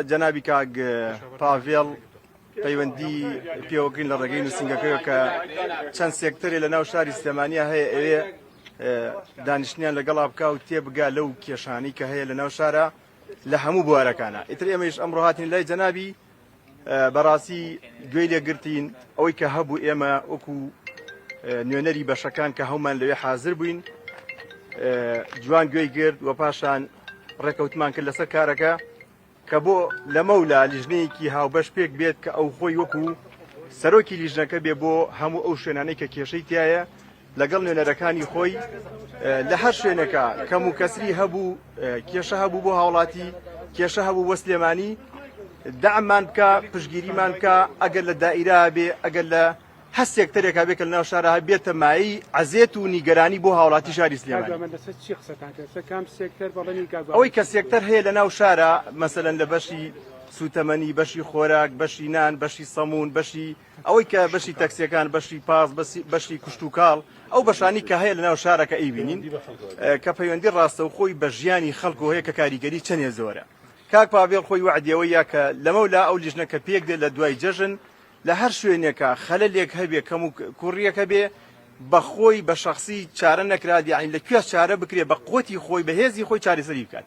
جەنابی کاک پاڤێڵ پەیوەندی پێوە گرین لە ڕێگەی نووسنگەکەی کە چەند سێکتەرێ لە ناو شاری سلێمانیا هەیە ئەوێ دانیشتنیان لەگەڵا بکە و تێبگا لەو کێشانی کە هەیە لە ناو شارە لە هەموو بوارەکانە ئیتر ئێمەش ئەمڕۆ هاتین لای جەنابی بەڕاستی گوێی لێگرتین ئەوەی کە هەبوو ئێمە وەکو نوێنەری بەشەکان کە هەومان لەوێ حاضر بووین جوان گوێی گرت و پاشان ڕێکەوتمان کرد لەسەر کارەکە کە بۆ لەمەولا لیژنەیەکی هاوبەش پێک بێت کە ئەو خۆی وەکو سەرۆکی لیژنەکە بێ بۆ هەموو ئەو شوێنانەی کە کێشەی تایە لەگەڵ نوێنەرەکانی خۆی لە هەر شوێنەکە کەم و کەسری هەبوو کێشە هەبوو بۆ هاوڵاتی کێشە هەبوو وەسلێمانی دەعمان بکە پشگیریمان بکە ئەگەر لە دائیرا بێ ئەگەر لە هەر سێکتەرێکا بێ کە لەناو شارا هەر بێتە مایەی عەزێت و نیگەرانی بۆ هاوڵاتی شاری سلێمانی. ئەوەی کە سێکتەر هەیە لە ناو شارە مەسەلەن لە بەشی سوتەمەنی بەشی خۆراک بەشی نان بەشی سەمون بەشی ئەوەی کە بەشی تەکسیەکان بەشی پاس بەشی کوشت و کاڵ ئەو بەشانی کە هەیە لەناو شارەکە ئەیبینین کە پەیوەندی ڕاستە و خۆی بە ژیانی خەڵکو هەیە کە کاریگەری چەندێ زۆرە کاک پاڤێڵ خۆی وعدەوەیە کە لەمەولا ئەو لیژنە کە پێک دێت لە دوای جەژن لە هەر شوێنێکا خەلەلێک هەبێ کەم و کوڕیەک هەبێ بە خۆی بە شەخسی چارە نەکرات یانی لە کوێ چارە بکرێ بە قوەتی خۆی بە هێزی خۆی چارەسەری بکات.